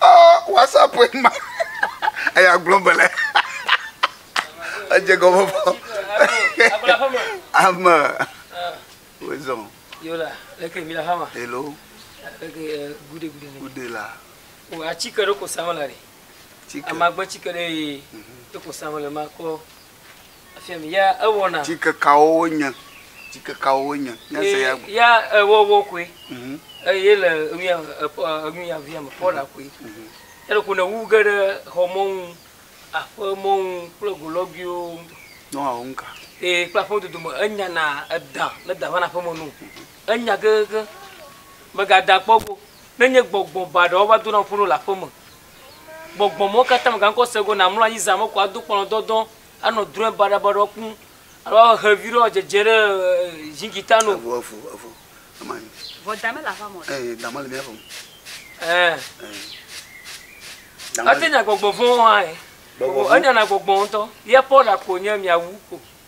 Oh, WhatsApp ma. Eya gblɔ be le. Edze gɔme bɔ. Ame. Wezɔn. Yola, leke mi la hama. Hello. Leke eh, gude gude. Gude la. O oh, atike ɖo ko sama la ɖe. Tike. Amagbe tike ɖe ye. Mhm. Ɖo ko sama le ma kɔ. Tsikekawo wonye, tsikekawo wonye. Ya ewɔwɔ koe. Eye le enuya enuya via me kpɔɖa koe. Ele ko ne wu ge ɖe xɔ mɔnu, aƒe mɔnu kple go lɔguiwo ŋutɔ. Nɔ wɔ ŋka. Ee kple aƒe dodo me enya na edã ne da va na aƒeme no. Enya kekekeŋ. Mega da kpɔ go. Ne nye gbɔgbɔ ba ɖewo va dona ƒo ɖo le aƒeme. gbɔgbɔ mawo katã mègate ŋu ase go o, nàmlɔ anyi zã me ko ado kpɔnɔ dɔdɔ anɔ drɔ̃e baɖabaɖawo kpɔm alo awɔ xevi ɖe woadzedze ɖe ʒingi tano. Evo, evo, evo, eme anyi. Vɔ da mele aƒeamɔ ɖe. Eyi, da mele mía ƒe o. Ɛɛ. Eyi. Ate nya gbɔgbɔ vɔ̃wo hã ɛ. Gbɔgbɔ vɔ̃. Enyana gbɔgbɔ ŋutɔ. Ye Paul ɖa ko nye miawu ko.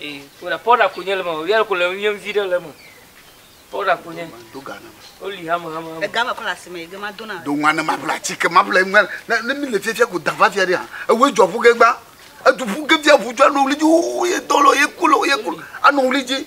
Ee, kóɖa pɔɖa ko nye le ma o, yɛrɛ ko le ŋu nye ŋvi ɖe le me. Pɔɖa ko nye. Do ga ne ma. Wo li hame hame hame. Ega me kɔ le asime yi ge ma do na. Do ŋua ne ma ble atike ma ble ŋua ne ne mi le fiafia ko da va fia ɖe ha. Ewo edzɔ ƒu ge gba. Edu ƒu ge fia ŋu dzɔ anɔ wuli dzi wo ye dɔ lɔ ye ku lɔ ye ku anɔ wuli dzi.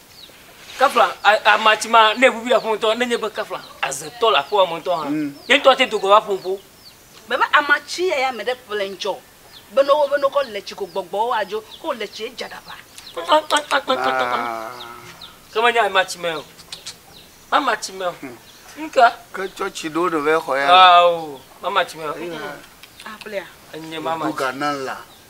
Kafla a ama tsi ma ne eʋuʋui aƒe ŋutɔ nenye be kafla aze tɔ le aƒewa me ŋutɔ hã. Ye ŋutɔ ate do gɔme aƒo ŋuƒo. Be be ama tsi ya ya me ɖe ƒle ŋtsɔ be no wo be no kɔ le tsi ko gbɔgbɔ wo adzo ko le tsi edza ɖa ƒa. Kpakpa kpakpa kpakpa kpakpa. Ke me nya ama tsi me o. Mama tsi me o. Ŋka. Ke tsɔ tsi ɖo no ve xɔ ya. Aa o. Mama tsi me o. Aƒlea. Enye mama tsi. Duga na la.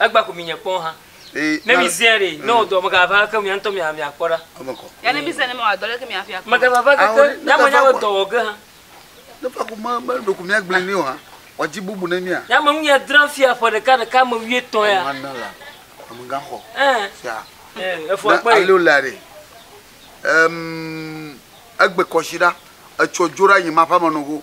Egba ko mi nye kpɔn ha. Ne mi zea ɖe, ne wɔ dɔ mega va ke mia ŋutɔ mia mia kpɔ ɖa. Ya ne mi zea ne mi wɔ dɔ leke mia fia kpɔ. Mega va va ke ke mia me nya be dɔ wɔ ge ha. Ne fa ko me me ɖo ko mia gble ne wa wa dzi bubu ne mia. Ya me nu ya dra fia ƒe ɖeka ɖeka me wi etɔ ya. Ma na la. Ame ga xɔ. Eh. Fia. Eh. Efo akpa. Alo la re. Ehm. Egbe kɔshi ɖa. Etsɔ dzoɖa yi ma ƒe amenɔgo.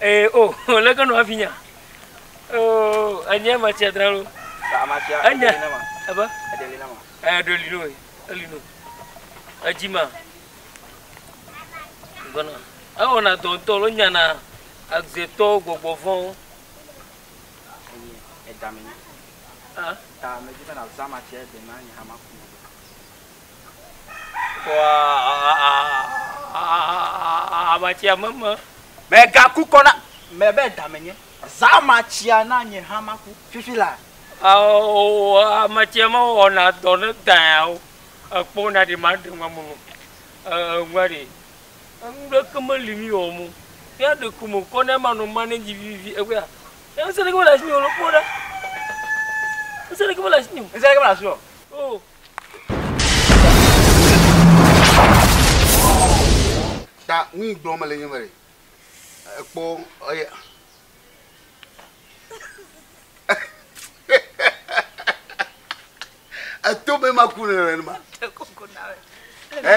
Ee o, o leke nɔ afi nya. Oo, enye ma tsia dra lo. Ba ma tsia. Enye. Ebe. Ede li na ma. Eh, do li no, eli no. Edzi ma. Gɔna. Ewo na do ntɔ lo nya na agze tɔ gbogbo vɔn. Enye edame ni. Ah. Ta me di be na zama tsia de na nya ma kuma. Amatsia me me. Mègaku kɔ na me be da menye. Zã amatsia na nye hã maku fifi laa. Amatsia mewɔna dɔ ne dãa o. Ekpɔna ɖi maɖe ŋua me nɔ. Eŋua ɖi. Nuɖeke meli mi wɔ mo. Mía ɖe ku me kɔ ne manɔ ma ne dzi vivi egbea. Ŋusẽ ɖeke mele asi mi o. Kpɔ ɖa. Ŋusẽ ɖeke mele asi mi o. Ŋusẽ ɖeke mele asi mi o. Ta nu yi gblɔm mele nye be ekpɔ eya eto be maku nenema. Ɛ?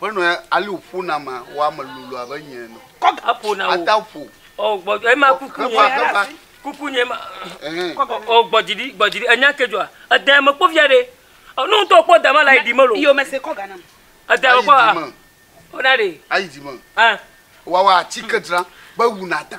Ƒe nɔe ali wòƒo na ma wo ame lolo abe nye ene. Kɔ ga ƒo na wo. Ata ƒo. O gbɔ dzi ema kuku nye. Kɔ ga kuku nye ma. Kɔ ga o gbɔ dzi ɖi gbɔ dzi ɖi enya ke dzɔa. Edea me kpɔ via ɖe. O nu ŋutɔ kpɔ dama la yi di me lo. Iyo me se kɔ ga nam. Edea me kpɔ a. Ona ɖe. Ayi di me. Ɛ. Wawa atike dzra be wuna da.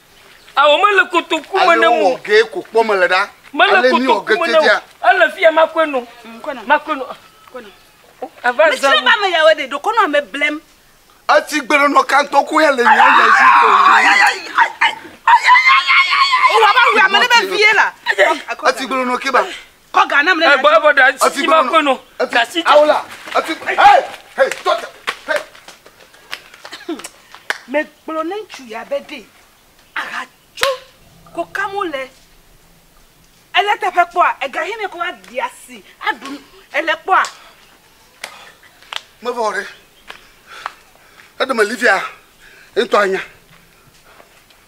Ao mele kotoku me ne mo. Ge ko kpɔ me le ɖa. Mele kotoku me ne mo. Ele fi ya makɔe no. Makɔe no. Ava za. Mesi ba me yawe de dokɔ no ame blem. Eti gbeɖenɔ kantɔ ko ya le nya nya si ko. O wa ba wi ame ne be vie la. Eti gbeɖenɔ ke ba. Kɔ ga nam ne Hey, boy, boy, da Efi si ma gbɔnɔ. kpɔe nɔ. Efi- Da si Awo la, efi- Hey, hey, tɔ te. Hey. Megblɔ ne ŋutsu ya be ɖee aha tso ko kam wole. Ele teƒe kpɔa ega hɛnɛ ko aɖi asi aɖu nu. Ele kpɔa. Mevɔ o ɖe. Eɖe meli fia, eŋtɔ anya.